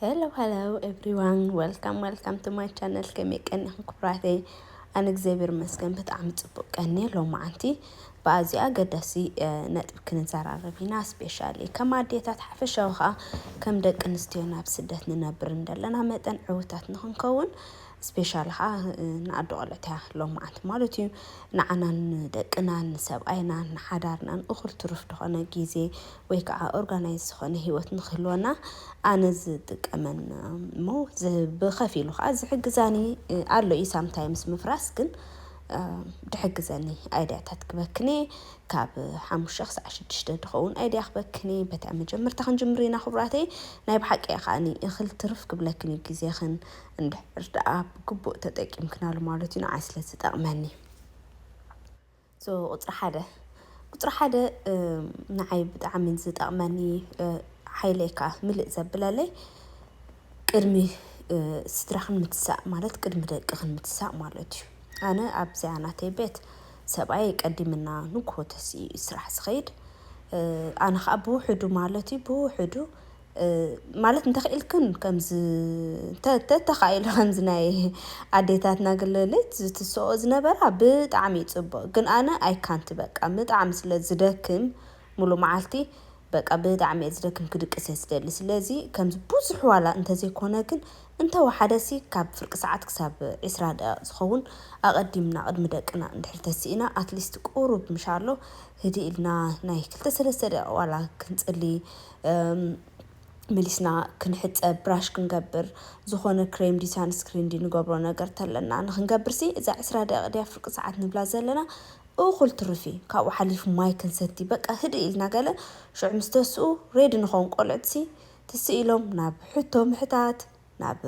ሄሎ ሄሎ ኤቭሪዋን ወልካም ወልካም ቱ ማይ ቻነል ከመይ ቀኒኹም ክብራተይ ኣነ እግዚኣብሔር ይመስገን ብጣዕሚ ፅቡቅ ቀኒ ሎማዓንቲ ብኣዝዩ ኣገዳሲ ነጥቢ ክንዘራረብ ኢና ስፔሻሊ ከም ኣዴታት ሓፈሻዊ ከዓ ከም ደቂ ኣንስትዮ ናብ ስደት ንነብር እንደለና መጠን ዕውታት ንክንከውን ስፔሻሊ ከዓ ንኣዶ ቆልዕት እያ ሎማዓንቲ ማለት እዩ ንዓናን ንደቅናን ንሰብኣይናን ንሓዳርናን እኹል ትሩፍ ዝኾነ ግዜ ወይ ከዓ ኦርጋናይዝ ዝኾነ ሂወት ንክህልወና ኣነ ዝጥቀመን እሞ ብኸፊሉ ከዓ ዝሕግዛኒ ኣሎ እዩ ሳምታይምስ ምፍራስ ግን ድሕግዘኒ ኣይድያታት ክበክኔ ካብ ሓሙሽተ ክሳዕ ሽዱሽተ ድኸውን ኣይድያ ክበክኔ በታ መጀመርታ ክንጅምር ኢና ክብራተይ ናይ ብሓቂ እየ ከዓኒ እኽል ትርፍ ክብለክን እዩ ግዜኽን እንድሕር ደኣ ብግቡእ ተጠቂምክናሉ ማለት እዩ ንዓይ ስለ ዝጠቕመኒ So ቁፅሪ ሓደ ቁፅሪ ሓደ ንዓይ ብጣዕሚ ዝጠቅመኒ ሓይለይ ከዓ ምልእ ዘብለለይ ቅድሚ ስድራክን ምትሳእ ማለት ቅድሚ ደቅክን ምትሳእ ማለት እዩ። ኣነ ኣብዚኣ ናተይ ቤት ሰብኣየይ ቀዲምና ንጉሆ ተሲኡ እዩ ስራሕ ዝከይድ። ኣነ ከዓ ብውሕዱ ማለት እዩ ብውሕዱ ማለት እንተኺኢልክን ከምዚ እንተ ተተኻኢሉ ከምዚ ናይ ኣዴታትና ግልልት ዝትስኦ ዝነበራ ብጣዕሚ እዩ ጽቡቅ ግን ኣነ ኣይ ካንት በቃ ብጣዕሚ ስለ ዝደክም ሙሉእ መዓልቲ በቃ ብጣዕሚ እየ ዝደክም ክድቅስ እየ ዝደሊ ስለዚ ከምዚ ብዙሕ ዋላ እንተዘይኮነ ግን እንተ ወሓደሲ ካብ ፍርቂ ሰዓት ክሳብ ዕስራ ደቂቅ ዝኸውን ኣቀዲምና ቅድሚ ደቅና እንድሕር ተሲእና ኣትሊስት ቁሩብ ምሻሎ ህድእ ኢልና ናይ ክልተ ሰለስተ ደቂቅ ዋላ ክንጽሊ መሊስና ክንሕጸብ ብራሽ ክንገብር ዝኾነ ክሬም ድዩ ሳንስክሪን ድዩ ንገብሮ ነገር ተለና ንኽንገብርሲ እዛ ዕስራ ደቂቕ ድያ ፍርቂ ሰዓት ንብላ ዘለና እኹል ትርፍ እዩ። ካብኡ ሓሊፉ ማይ ክንሰቲ በቃ ህድእ ኢልና ገለ ሽዑ ምስ ተስኡ ሬዲ ንኸውን ቆልዑትሲ ትስእ ኢሎም ናብ ሕቶ ምሕታት ናብ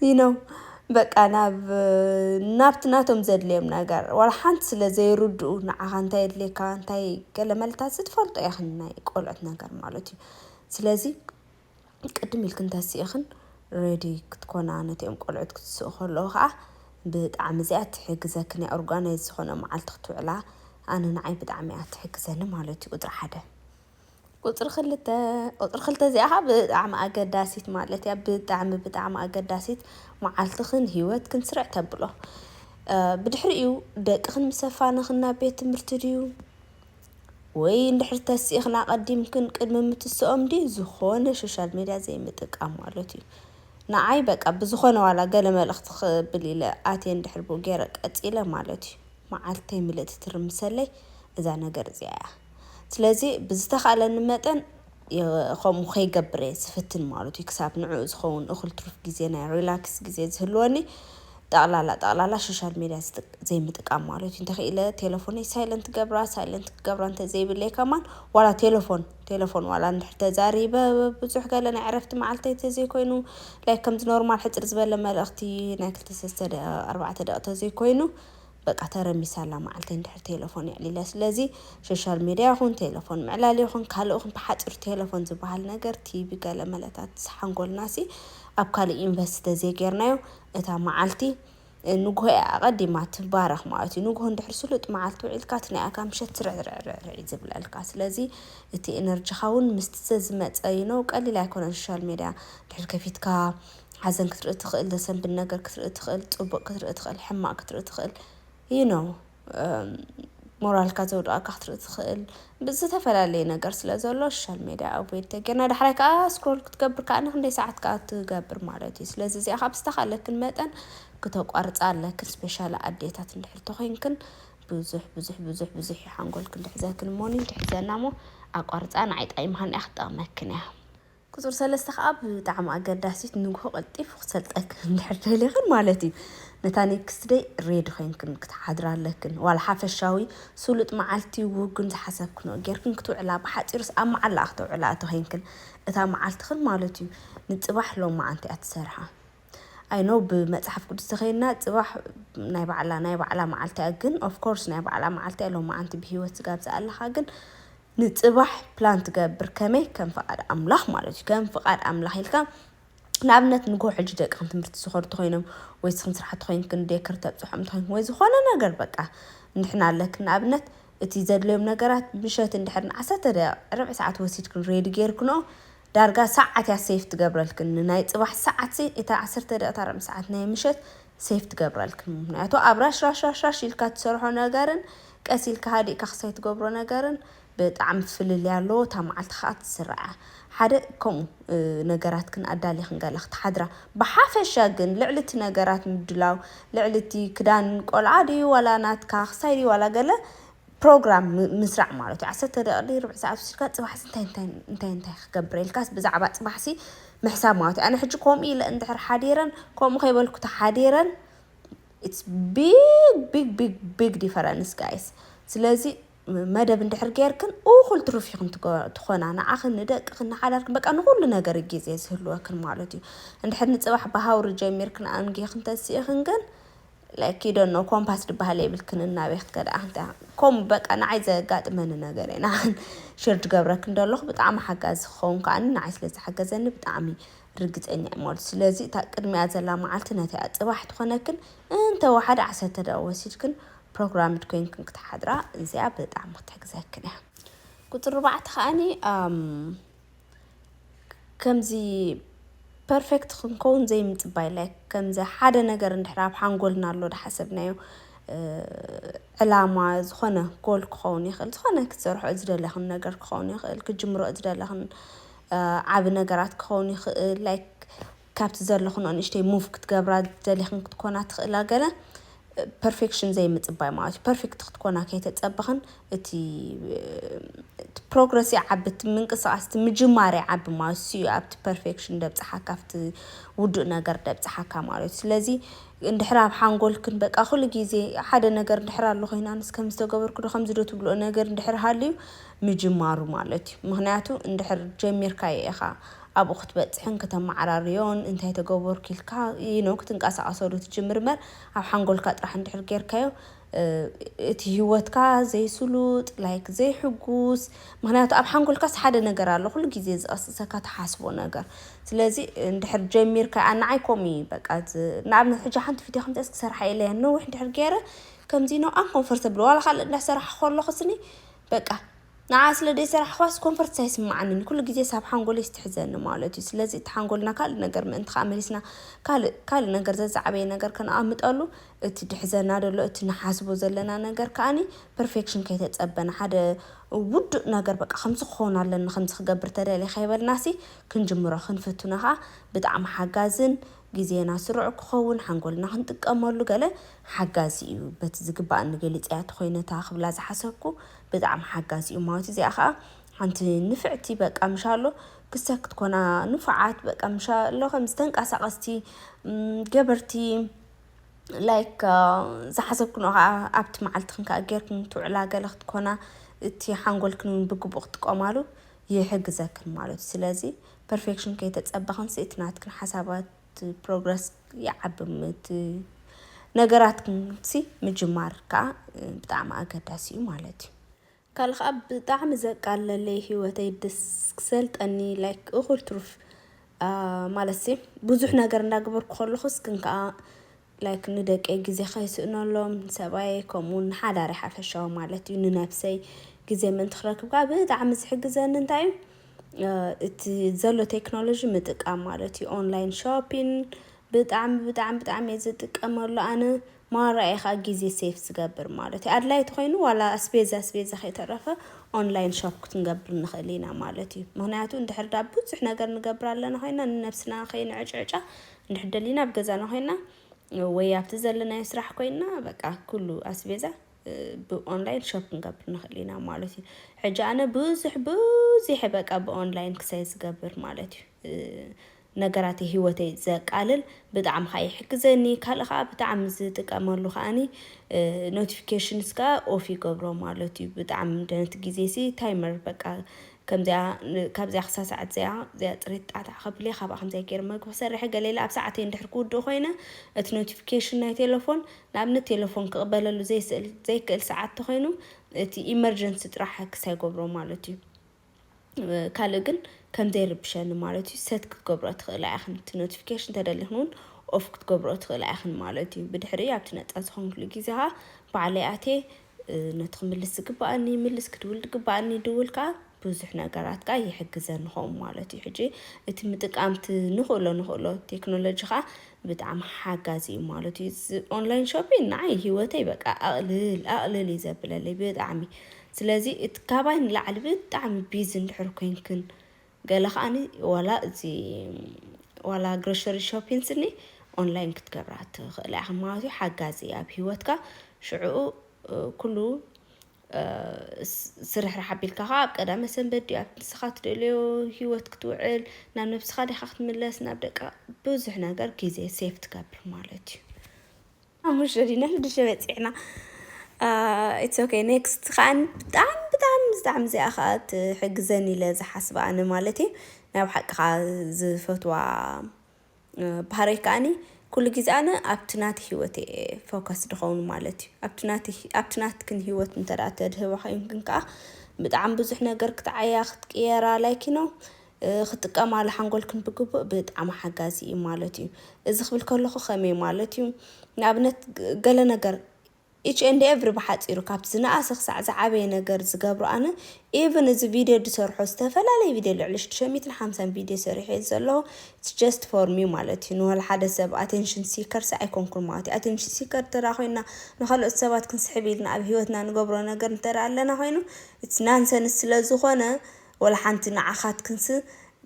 ዩኖ በቃ ናብ ናብቲ ናቶም ዘድልዮም ነገር ዋላ ሓንቲ ስለ ዘይርድኡ ንዓኻ እንታይ የድልየካ እንታይ ገለ መልታሲ ትፈልጦ ኢኽን ናይ ቆልዑት ነገር ማለት እዩ ስለዚ ቅድም ኢልክን ተሲእኽን ሬዲ ክትኮና ነቲኦም ቆልዑት ክትስኡ ከለዉ ኸዓ ብጣዕሚ እዚኣ ትሕግዘክን እያ ኦርጋናይዝ ዝኾነ መዓልቲ ክትውዕላ ኣነ ንዓይ ብጣዕሚ እያ ትሕግዘኒ ማለት እዩ ቁፅሪ ሓደ። ቁጽሪ ክልተ ቁጽሪ ክልተ እዚኣ ከኣ ብጣዕሚ ኣገዳሲት ማለት እያ ብጣዕሚ ብጣዕሚ ኣገዳሲት መዓልትኽን ሂወትክን ስርዕ ተብሎ ብድሕሪኡ ደቅኽን ምስ ኣፋነኽን ናብ ቤት ትምህርቲ ድዩ ወይ እንድሕሪ ተሲእኽን ኣቐዲምክን ቅድሚ ምትስኦም ድዩ ዝኾነ ሶሻል ሚድያ ዘይምጥቃም ማለት እዩ ንዓይ በቃ ብዝኾነ ዋላ ገለ መልእኽቲ ክብል ኢለ ኣትየ እንድሕር ብኡ ገይረ ቀጺለ ማለት እዩ መዓልተይ ምልእቲ ትርምሰለይ እዛ ነገር እዚኣ እያ። ስለዚ ብዝተኻእለኒ መጠን ከምኡ ከይገብር እየ ዝፍትን ማለት እዩ ክሳብ ንዕኡ ዝኸውን እኹል ትሩፍ ግዜ ናይ ሪላክስ ግዜ ዝህልወኒ ጠቕላላ ጠቕላላ ሶሻል ሜድያ ዘይምጥቃም ማለት እዩ እንተኽኢለ ቴለፎነይ ሳይለንት ገብራ ሳይለንት ክገብራ እንተዘይብለይ ከማን ዋላ ቴለፎን ቴለፎን ዋላ እንድሕር ተዛሪበ ብዙሕ ገለ ናይ ዕረፍቲ መዓልተይ እንተዘይኮይኑ ላይክ ከምዚ ኖርማል ሕፅር ዝበለ መልእኽቲ ናይ ክልተ ሰለስተ ደቂቕ ኣርባዕተ ደቂቕ እንተዘይኮይኑ በቃ ተረሚሳ ኣላ መዓልቲ እንድሕር ቴለፎን የዕሊለ ስለዚ ሾሻል ሜድያ ይኹን ቴለፎን ምዕላል ይኹን ካልእ ይኹን ብሓጺሩ ቴለፎን ዝበሃል ነገር ቲቪ ገለ መለታት ሓንጎልናሲ ኣብ ካልእ ኢንቨስት ተዘይጌርናዮ እታ መዓልቲ ንግሆ እያ ኣቐዲማ ትባረኽ ማለት እዩ ንግሆ እንድሕር ስሉጥ መዓልቲ ውዒልካ እቲ ናይ ኣካ ምሸት ስርዕርዕርዕርዕ እዩ ዝብለልካ ስለዚ እቲ ኤነርጂኻ እውን ምስቲ ዘዝመጸ ይነው ቀሊል ኣይኮነን ሾሻል ሜድያ ድሕር ከፊትካ ሓዘን ክትርኢ ትኽእል ዘሰንብድ ነገር ክትርኢ ትኽእል ጽቡቅ ክትርኢ ትኽእል ሕማቅ ክትርኢ ትኽእል you know ሞራልካ ዘውድቀካ ክትርኢ ትኽእል ብዝተፈላለየ ነገር ስለ ዘሎ ሶሻል ሜድያ ኣቮይድ ተጌርና ዳሕራይ ከዓ ስክሮል ክትገብር ከዓ ንክንደይ ሰዓት ከዓ ትገብር ማለት እዩ ስለዚ እዚኣ ካብ ዝተኻለክን መጠን ክተቋርፃ ኣለክን ስፔሻሊ ኣዴታት እንድሕር ተኮይንክን ብዙሕ ብዙሕ ብዙሕ ብዙሕ እዩ ሓንጎልክን ድሕዘክን እሞኒ ድሕዘና እሞ ኣቋርፃ ንዓይ ጠቂማኒ እያ ክትጠቅመክን እያ ቁጽሪ ሰለስተ ከኣ ብጣዕሚ ኣገዳሲት ንግሆ ቀልጢፉ ክሰልጠክን እንድሕር ደሊኽን ማለት እዩ ነታ ኔክስት ደይ ሬዲ ኮይንክን ክትሓድራ ኣለክን ዋላ ሓፈሻዊ ስሉጥ መዓልቲ ውግን ዝሓሰብክንኦ ጌርክን ክትውዕላ ብሓጺሩስ ኣብ መዓላኣ ክተውዕላኣ ተኮይንክን እታ መዓልትኽን ማለት እዩ ንጽባሕ ሎማዓንቲ እያ ትሰርሓ ኣይ ኖው ብመጽሓፍ ቅዱስ ተከይድና ጽባሕ ናይ ባዕላ ናይ ባዕላ መዓልቲ እያ ግን ኦፍ ኮርስ ናይ ባዕላ መዓልቲ እያ ሎማዓንቲ ብሂወት ስጋብ ዝኣለኻ ግን ንጽባሕ ፕላን ትገብር ከመይ ከም ፍቃድ ኣምላኽ ማለት እዩ ከም ፍቃድ ኣምላኽ ኢልካ ንኣብነት ንግሆ ሕጂ ደቂ ትምህርቲ ዝኸዱ ተኮይኖም ወይ ስኽን ስራሕቲ ኮይንክን ዴክር ተብጽሖም ተኮይንክን ወይ ዝኾነ ነገር በቃ ንሕና ኣለክን ንኣብነት እቲ ዘድልዮም ነገራት ምሸት እንድሕር ንዓሰርተ ደቂቅ ርብዕ ሰዓት ወሲድክን ሬዲ ጌርክንኦ ዳርጋ ሰዓት እያ ሴቭ ትገብረልክን ንናይ ጽባሕ ሰዓት ሲ እታ ዓሰርተ ደቂታ ርብዒ ሰዓት ናይ ምሸት ሴቭ ትገብረልክን ምክንያቱ ኣብ ራሽራሽራሽራሽ ኢልካ ትሰርሖ ነገርን ቀስ ኢልካ ሃዲእካ ክሳይ ትገብሮ ነገርን ብጣዕሚ ፍልልይ ኣለዎ እታ መዓልቲ ከኣ ትስርዓ ሓደ ከምኡ ነገራትክን ኣዳሊክን ገለ ክትሓድራ ብሓፈሻ ግን ልዕሊ እቲ ነገራት ምድላው ልዕሊ እቲ ክዳን ቆልዓ ድዩ ዋላ ናትካ ክሳይ ድዩ ዋላ ገለ ፕሮግራም ምስራዕ ማለት እዩ ዓሰርተ ደቂቅ ድዩ ርብዒ ሰዓት ወሲድካ ጽባሕሲ እንታይ እንታይ እንታይ እንታይ ክገብር ኢልካስ ብዛዕባ ጽባሕሲ ምሕሳብ ማለት እዩ ኣነ ሕጂ ከምኡ ኢለ እንድሕር ሓዲረን ከምኡ ከይበልኩ ተሓዲረን ኢትስ ቢግ ቢግ ቢግ ቢግ ዲፈረንስ ጋይስ ስለዚ መደብ እንድሕር ገይርክን እኹል ትሩፍ ይኹን ትኾና ንዓኽን ንደቅኽን ንሓዳርክን በቃ ንኹሉ ነገር ግዜ ዝህልወክን ማለት እዩ እንድሕር ንፅባሕ ብሃውሪ ጀሚርክን ኣንጊኽን ተንስኢኽን ግን ለኪ ደኖ ኮምፓስ ድበሃል የብልክን እናበይ ክትከዳ ኣንታ ከምኡ በቃ ንዓይ ዘጋጥመኒ ነገር እዩ ንዓን ሽር ድገብረክ እንደለኹ ብጣዕሚ ሓጋዚ ክኸውን ከዓኒ ንዓይ ስለ ዝሓገዘኒ ብጣዕሚ ርግፀኛ እየ ማለት ስለዚ እታ ቅድሚኣ ዘላ መዓልቲ ነቲኣ ፅባሕ ትኾነክን እንተወሓደ ዓሰርተ ደቂቕ ወሲድክን ፕሮግራምድ ኮይንክን ክትሓድራ እዚኣ ብጣዕሚ ክትሕግዘክን እያ ቁፅሪ ኣርባዕተ ከዓኒ ከምዚ ፐርፌክት ክንከውን ዘይምጽባይ ላይክ ከምዚ ሓደ ነገር እንድሕር ኣብ ሓንጎልና ኣሎ ዝሓሰብናዮ ዕላማ ዝኾነ ጎል ክኸውን ይኽእል ዝኾነ ክትሰርሕኦ ዝደለኽን ነገር ክኸውን ይኽእል ክትጅምርኦ ዝደለኽን ዓቢ ነገራት ክኸውን ይኽእል ላይክ ካብቲ ዘለክንኦ ንእሽተይ ሙቭ ክትገብራ ደሊክን ክትኮና ትክእላ ገለ ፐርፌክሽን ዘይምጽባይ ማለት እዩ ፐርፌክት ክትኮና ከይተጸበክን እቲ ፕሮግረስ ይዓቢ እቲ ምንቅስቃስ እቲ ምጅማር ይዓቢ ማለት እሱ እዩ ኣብቲ ፐርፌክሽን ደብጽሓካ ኣብቲ ውዱእ ነገር ደብጽሓካ ማለት እዩ ስለዚ እንድሕር ኣብ ሓንጎልክን በቃ ኩሉ ግዜ ሓደ ነገር እንድሕር ኣሎ ኮይናንስ ከምዚ ተገበርኩ ዶ ከምዚ ዶ ትብልኦ ነገር እንድሕር ሃልዩ ምጅማሩ ማለት እዩ ምኽንያቱ እንድሕር ጀሚርካዮ ኢኻ ኣብኡ ክትበጽሕን ክተመዓራርዮን እንታይ ተገበርኩ ኢልካ you know ክትንቀሳቀሰሉ ትጅምር እምበር ኣብ ሓንጎልካ ጥራሕ እንድሕር ጌርካዮ እቲ ሂወትካ ዘይስሉጥ like ዘይሕጉስ ምኽንያቱ ኣብ ሓንጎልካስ ሓደ ነገር ኣሎ ኩሉ ግዜ ዝቅስቅሰካ ትሓስቦ ነገር ስለዚ እንድሕር ጀሚርካዮ ኣነ ንዓይ ከምኡ እዩ በቃ ንኣብነት ሕጂ ሓንቲ ቪድዮ ከምዚኣስ ክሰርሓ ኢለያ ነዊሕ እንድሕር ጌረ ከምዚ ነው ኣንኮንፈርተብል ዋላ ካልእ እንዳሰራሕኩ ከለኹስኒ በቃ ንዓ ስለ ደይሰራሕክዋስ ኮንፈርትስ ኣይስማዓንን ኩሉ ግዜስ ኣብ ሓንጎለይስ ትሕዘኒ ማለት እዩ ስለዚ እቲ ሓንጎልና ካልእ ነገር ምእንቲ ከኣ መሊስና ካልእ ካልእ ነገር ዘዛዓበየ ነገር ከነኣምጠሉ እቲ ድሕዘና ደሎ እቲ ንሓስቦ ዘለና ነገር ከኣኒ ፐርፌክሽን ከይተጸበና ሓደ ውዱእ ነገር በቃ ከምዚ ክከውን ኣለኒ ከምዚ ክገብር ተደልየ ከይበልናሲ ክንጅምሮ ክንፍትኖ ከኣ ብጣዕሚ ሓጋዝን ግዜና ስሩዕ ክኸውን ሓንጎልና ክንጥቀመሉ ገለ ሓጋዚ እዩ በቲ ዝግባኣኒ ገሊጸ እያ ተኾይነ እታ ክብላ ዝሓሰብኩ ብጣዕሚ ሓጋዚ እዩ እማወቲ እዚኣ ከኣ ሓንቲ ንፍዕቲ በቃ ምሻሎ ክሰ ክትኮና ንፉዓት በቃ ምሻሎ ከምዚ ተንቃሳቀስቲ ገበርቲ ላይክ ዝሓሰብክንኦ ከኣ ኣብቲ መዓልትክን ከኣ ጌርክን ትውዕላ ገለ ክትኮና እቲ ሓንጎልክን እውን ብግቡእ ክትጥቀማሉ ይሕግዘክን ማለት እዩ ስለዚ ፐርፌክሽን ከይተጸበ ክንስእቲ ናትክን ሓሳባት ፕሮግረስ ይዓቢ ምት ነገራት ክንሲ ምጅማር ከኣ ብጣዕሚ ኣገዳሲ እዩ ማለት እዩ። ካልእ ከኣ ብጣዕሚ ዘቃለለይ ሂወተይ ድስ ክሰልጠኒ ላይክ እኹል ትሩፍ ማለትሲ ብዙሕ ነገር እንዳገበርኩ ከለኹስ ግን ከኣ ላይክ ንደቀይ ግዜ ከይስእነሎም ንሰብኣየይ ከምኡ ውን ንሓዳረይ ሓፈሻዊ ማለት እዩ ንነብሰይ ግዜ ምእንቲ ክረክብ ከኣ ብጣዕሚ ዝሕግዘኒ እንታይ እዩ እቲ ዘሎ ቴክኖሎጂ ምጥቃም ማለት እዩ ኦንላይን ሾፒን ብጣዕሚ ብጣዕሚ ብጣዕሚ እየ ዝጥቀመሉ ኣነ ማራ እየ ከዓ ግዜ ሴፍ ዝገብር ማለት እዩ ኣድላይ ተኮይኑ ዋላ ኣስቤዛ ኣስቤዛ ከይተረፈ ኦንላይን ሾፕ ክትንገብር ንክእል ኢና ማለት እዩ ምክንያቱ እንድሕር ዳ ብዙሕ ነገር ንገብር ኣለና ኮይና ንነብስና ከይንዕጭዕጫ እንድሕር ደሊና ኣብ ገዛና ኮይና ወይ ኣብቲ ዘለናዮ ስራሕ ኮይና በቃ ኩሉ ኣስቤዛ ብኦንላይን ሾፕ ክንገብር ንኽእል ኢና ማለት እዩ ሕጂ ኣነ ብዙሕ ብዙሐ በቃ ብኦንላይን ክሳይ ዝገብር ማለት እዩ ነገራት ህይወተይ ዘቃልል ብጣዕሚ ከዓ ይሕግዘኒ ካልእ ከዓ ብጣዕሚ ዝጥቀመሉ ከዓኒ ኖቲፊኬሽንስ ከዓ ኦፍ ይገብሮ ማለት እዩ ብጣዕሚ ደነት ግዜ ሲ ታይመር በቃ ከምዚኣ ካብዚኣ ክሳብ ሰዓት እዚኣ እዚኣ ፅሬት ጣዕታዕ ከብልየ ካብኣ ከምዚኣ ገይረ መግቢ ክሰርሐ ገለ ኢለ ኣብ ሰዓተይ እንድሕር ክውድእ ኮይነ እቲ ኖቲፊኬሽን ናይ ቴለፎን ንኣብነት ቴለፎን ክቕበለሉ ዘይስእል ዘይክእል ሰዓት ተኮይኑ እቲ ኢመርጀንሲ ጥራሕ ኣክስ ኣይገብሮ ማለት እዩ ካልእ ግን ከምዘይ ርብሸኒ ማለት እዩ ሰት ክትገብሮ ትኽእላ ኢኽን እቲ ኖቲፊኬሽን ተደሊኽን እውን ኦፍ ክትገብሮ ትኽእላ ኢኽን ማለት እዩ ብድሕሪ ኣብቲ ነፃ ዝኾንክሉ ግዜ ከዓ ባዕለይ ኣቴ ነቲ ክምልስ ዝግበኣኒ ይምልስ፣ ክድውል ዝግበኣኒ ይድውል ከኣ ብዙሕ ነገራት ከኣ ይሕግዘኒ ኸም ማለት እዩ። ሕጂ እቲ ምጥቃም እቲ ንኽእሎ ንኽእሎ ቴክኖሎጂ ከኣ ብጣዕሚ ሓጋዚ እዩ ማለት እዩ። እዚ ኦንላይን ሾፒን ንዓይ ህይወተይ በቃ ኣቕልል ኣቕልል እዩ ዘብለለይ ብጣዕሚ። ስለዚ እቲ ካባይ ንላዕሊ ብጣዕሚ ቢዚ እንድሕር ኮይንክን ገለ ከኣኒ ዋላ እዚ ዋላ ግሮሸሪ ሾፒን ስኒ ኦንላይን ክትገብራ ትኽእላ ኢኻ ማለት እዩ ሓጋዚ ኣብ ሂወትካ ሽዕኡ ኩሉ ስርሕራሕ ኣቢልካ ከዓ ኣብ ቀዳመ ሰንበት ድዩ ኣብ ንስኻ ትደልዮ ሂወት ክትውዕል ናብ ነብስኻ ዲኻ ክትምለስ ናብ ደቃ ብዙሕ ነገር ግዜ ሴፍ ትገብር ማለት እዩ ሓሙሽተ ዲና ሽዱሽተ በጺሕና ኢትስ ኦኬ ኔክስት ከኣ ብጣዕሚ ብጣዕሚ ብጣዕሚ እዚኣ ከኣ ትሕግዘኒ ኢለ ዝሓስባ ኣነ ማለት እዩ ናይ ብሓቂ ከኣ ዝፈትዋ ባህረይ ከኣኒ ኩሉ ግዜ ኣነ ኣብቲ ናቲ ሂወት እየ ፎከስ ድኸውን ማለት እዩ ኣብቲ ናቲ ኣብቲ ናትክን ሂወት እንተ ተድህባ ኮይንክን ከኣ ብጣዕሚ ብዙሕ ነገር ክትዓያ ክትቅየራ ላይክ ዩ ኖ ክትጥቀማሉ ሓንጎልክን ብግቡእ ብጣዕሚ ሓጋዚ እዩ ማለት እዩ። እዚ ክብል ከለኹ ከመይ ማለት እዩ? ንኣብነት ገለ ነገር ኢች ኤንድ ኤቭሪ ብሓጺሩ ካብቲ ዝነኣሰ ክሳዕ ዝዓበየ ነገር ዝገብሮ ኣነ ኢቭን እዚ ቪድዮ ዝሰርሖ ዝተፈላለየ ቪድዮ ልዕሊ ሽዱሽተ ሚእትን ሓምሳን ቪድዮ ሰሪሐ እየ ዘለኹ ኢትስ ጀስት ፎር ሚ ማለት እዩ ንወላ ሓደ ሰብ ኣቴንሽን ሲከር ሲ ኣይኮንኩን ማለት እዩ ኣቴንሽን ሲከር እንተ ኮይና ንካልኦት ሰባት ክንስሕብ ኢልና ኣብ ሂወትና ንገብሮ ነገር እንተ ኣለና ኮይኑ ኢትስ ናንሰንስ ስለ ዝኾነ ወላሓንቲ ንዓኻትክንስ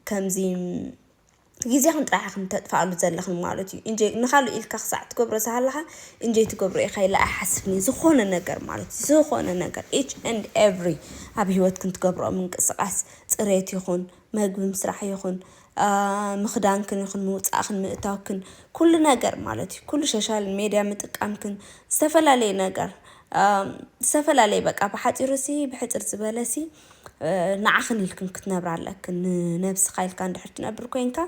ከምዚ ግዜኽን ጥራሕ ኢኽን ተጥፍኣሉ ዘለኽን ማለት እዩ ኢንጆይ ንኻልእ ኢልካ ክሳዕ ትገብሮ ዝሃለኻ ኢንጆይ ትገብሮ ኢኻ ኢለ ኣይሓስብን እየ ዝኾነ ነገር ማለት እዩ ዝኾነ ነገር ኢች ኤንድ ኤቭሪ ኣብ ሂወትክን ትገብርኦ ምንቅስቃስ ጽሬት ይኹን መግቢ ምስራሕ ይኹን ምኽዳንክን ይኹን ምውጻእኽን ምእታውክን ኩሉ ነገር ማለት እዩ ኩሉ ሸሻል ሜድያ ምጥቃምክን ዝተፈላለየ ነገር ዝተፈላለየ በቃ ብሓጺሩሲ ብሕጽር ዝበለሲ ንዓኽን ኢልክን ክትነብራ ኣለክን ንነብስኻ ኢልካ እንድሕር ትነብር ኮንካ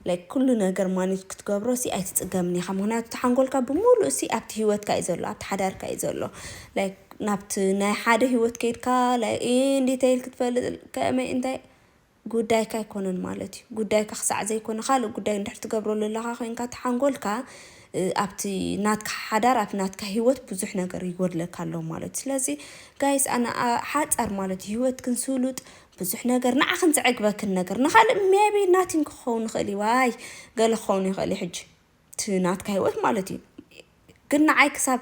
like ኩሉ ነገር ማኔጅ ክትገብሮ ሲ ኣይትጽገምን ኢኻ ምክንያቱ እቲ ሓንጎልካ ብምሉእ ሲ ኣብቲ ሂወትካ እዩ ዘሎ ኣብቲ ሓዳርካ እዩ ዘሎ like ናብቲ ናይ ሓደ ሂወት ከይድካ like ኢ እንዴት ኢልክ ትፈልጥ ከመይ እንታይ ጉዳይካ ኣይኮነን ማለት እዩ ጉዳይካ ክሳዕ ዘይኮነ ካልእ ጉዳይ እንድሕር ትገብረሉ ኣለኻ ኮንካ እቲ ሓንጎልካ ኣብቲ ናትካ ሓዳር ኣብቲ ናትካ ሂወት ብዙሕ ነገር ይጎድለካ ኣሎ ማለትዩ ስለዚ ጋይስ ኣነ ሓጻር ማለትዩ ሂወትክን ስሉጥ ብዙሕ ነገር ንዓክን ዘዕግበክን ነገር ንካልእ ሜቢ ናቲን ክከውን ይክእል እዩ ዋይ ገለ ክከውን ይክእል እዩ ሕጂ እቲ ናትካ ሂወት ማለትዩ ግን ንዓይ ክሳብ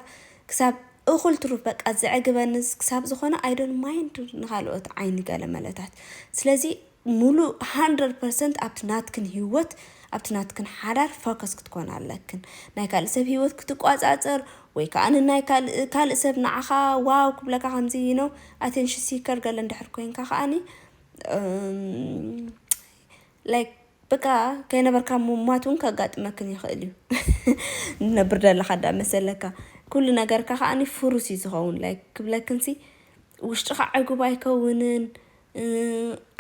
ክሳብ እኩል ትሩፍ በቃ ዘዕግበንስ ክሳብ ዝኮነ ኣይ ዶን ማይንድ ንካልኦት ዓይኒ ገለ መለታት ስለዚ ሙሉእ ሃንድረድ ፐርሰንት ኣብቲ ናትክን ሂወት ኣብቲ ናትክን ሓዳር ፎከስ ክትኮና ኣለክን ናይ ካልእ ሰብ ሂወት ክትቋጻጸር ወይ ከኣ ንናይ ካልእ ካልእ ሰብ ንዓኻ ዋው ክብለካ ከምዚ you know attention seeker ገለ እንድሕር ኮንካ ከኣኒ like በቃ ከይነበርካ ምሟት እውን ከጋጥመክን ይኽእል እዩ ንነብር ደለኻ ዳ መሰለካ ኩሉ ነገርካ ከኣኒ ፍሩስ እዩ ዝኸውን like ክብለክንሲ ውሽጥኻ ዕጉብ ኣይከውንን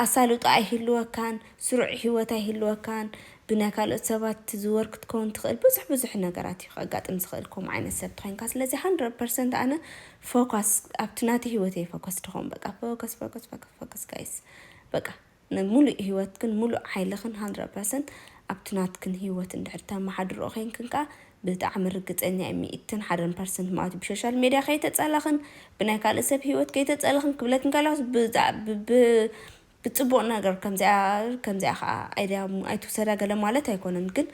ኣሳልጦ ኣይህልወካን፣ ስሩዕ ሂወት ኣይህልወካን፣ ብናይ ካልኦት ሰባት ትዝወር ክትከውን ትኽእል፣ ብዙሕ ብዙሕ ነገራት እዩ ከጋጥም ዝኽእል ከምኡ ዓይነት ሰብ ተኾይንካ፣ ስለዚ ሃንድረድ ፐርሰንት ኣነ ፎካስ ኣብቲ ናተይ ሂወት እየ ፎከስ ድኾን በቃ ፎከስ ፎከስ ፎከስ ፎከስ ጋይስ በቃ ንሙሉእ ሂወትክን ሙሉእ ሓይልኽን ሃንድረድ ፐርሰንት ኣብቲ ናትክን ሂወት እንድሕር ተመሓድርኦ ኮይንክን ከኣ ብጣዕሚ ርግጸኛ እየ ሚእትን ሓደን ፐርሰንት ማለቱ ብሾሻል ሜድያ ከይተጸለኽን ብናይ ካልእ ሰብ ሂወት ከይተጸለኽን ክብለኪ እንከለኹስ ብጽቡቕ ነገር ከምዚኣ ከምዚኣ ከኣ ኣይድያ ኣይትውሰዳ ገለ ማለት ኣይኮነን ግን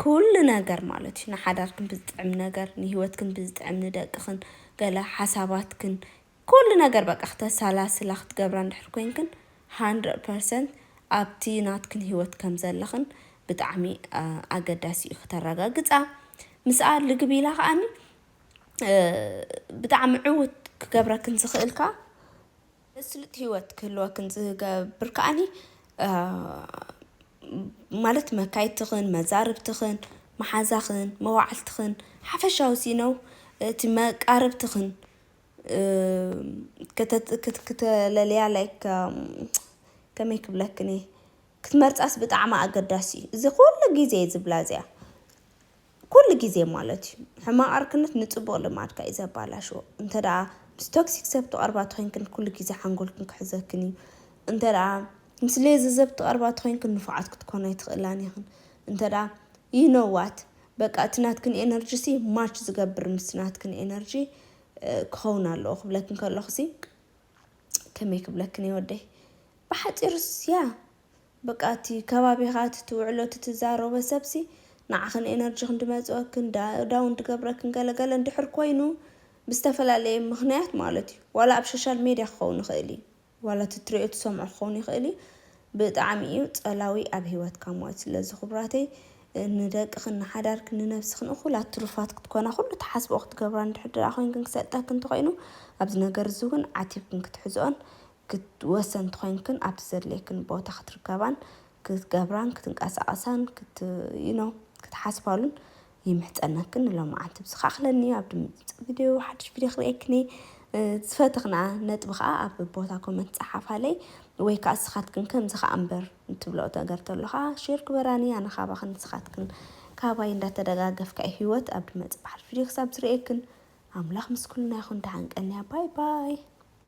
ኩሉ ነገር ማለት እዩ ንሓዳርክን ብዝጥዕም ነገር ንሂወትክን ብዝጥዕም ንደቅኽን ገለ ሓሳባትክን ኩሉ ነገር በቃ ክተሳላስላ ክትገብራ እንድሕር ኮይንክን ሃንድረድ ፐርሰንት ኣብቲ ናትክን ሂወት ከም ዘለኽን ብጣዕሚ ኣገዳሲ እዩ ክተረጋግጻ ምስኣ ልግብ ኢላ ከኣኒ ብጣዕሚ ዕውት ክገብረክን ዝኽእል ከኣ መስሉጥ ሂወት ክህልወክን ዝገብር ከኣኒ ማለት መካይድትኽን መዛርብትኽን መሓዛኽን መዋዕልትኽን ሓፈሻዊ ሲነው እቲ መቃርብትኽን ክተለልያ ላይክ ከመይ ክብለክን እየ ክትመርፃስ ብጣዕሚ ኣገዳሲ እዩ እዚ ኩሉ ግዜ እዩ ዝብላ እዚኣ ኩሉ ግዜ ማለት እዩ ሕማቅ ዕርክነት ንፅቡቅ ልማድካ እዩ ዘባላሽዎ እንተ ደኣ ምስ ቶክሲክ ሰብ ትቀርባ ተኮይንክን ኩሉ ግዜ ሓንጎልክን ክሕዘክን እዩ እንተ ደኣ ምስ ሌዚ ሰብ ትቀርባ ተኮይንክን ንፉዓት ክትኮና ኣይትክእላን ኢክን እንተ ደኣ ይኖዋት በቃ እቲ ናትክን ኤነርጂ ሲ ማች ዝገብር ምስቲ ናትክን ኤነርጂ ክኸውን ኣለዎ ክብለክን ከለኹ ሲ ከመይ ክብለክን እየ ወደይ ብሓጺሩ ያ በቃ እቲ ከባቢኻ እቲ ትውዕሎ እቲ ትዛረቦ ሰብሲ ንዓኽን ኤነርጂኽን እንድመጽወክን ዳውን ድገብረክን ገለገለ እንድሕር ኮይኑ ብዝተፈላለየ ምኽንያት ማለት እዩ ዋላ ኣብ ሾሻል ሜድያ ክኸውን ይኽእል እዩ ዋላ እቲ ትሪኦ ትሰምዖ ክኸውን ይኽእል እዩ ብጣዕሚ እዩ ጸላዊ ኣብ ሂወትካ ሞት ስለዚ ክቡራተይ ንደቅኽን ንሓዳርክን ንነብስኽን እኹላት ትሩፋት ክትኮና ኩሉ ትሓስብኦ ክትገብራ እንድሕር ድኣ ኮይንክን ክሰልጠክን እንተኾይኑ ኣብዚ ነገር እዚ እውን ዓቲብክን ክትሕዝኦን ወሰንቲ ኮይንክን ኣብቲ ዘድልየክን ቦታ ክትርከባን ክትገብራን ክትንቀሳቀሳን ክት you know ክትሓስባሉን ይምሕጸነክን ንሎምዓንቲ ብዝካ ኣክለኒ ኣብ ድምጽ ቪድዮ ሓድሽ ቪድዮ ክርእየክኒ ዝፈተክና ነጥቢ ከዓ ኣብ ቦታ ኮመንት ጸሓፋለይ ወይ ከዓ ስኻትክን ከምዚ ከዓ እምበር እትብሎ ነገር ተሎ ከዓ ሼር ግበራኒ ኣነ ካባክን ስኻትክን ካባይ እንዳተደጋገፍካ እዩ ህይወት ኣብ ድመጽ በዓል ቪድዮ ክሳብ ዝርእየክን ኣምላኽ ምስ ኩልና ይኹን ደሓን ቀንያ ባይ ባይ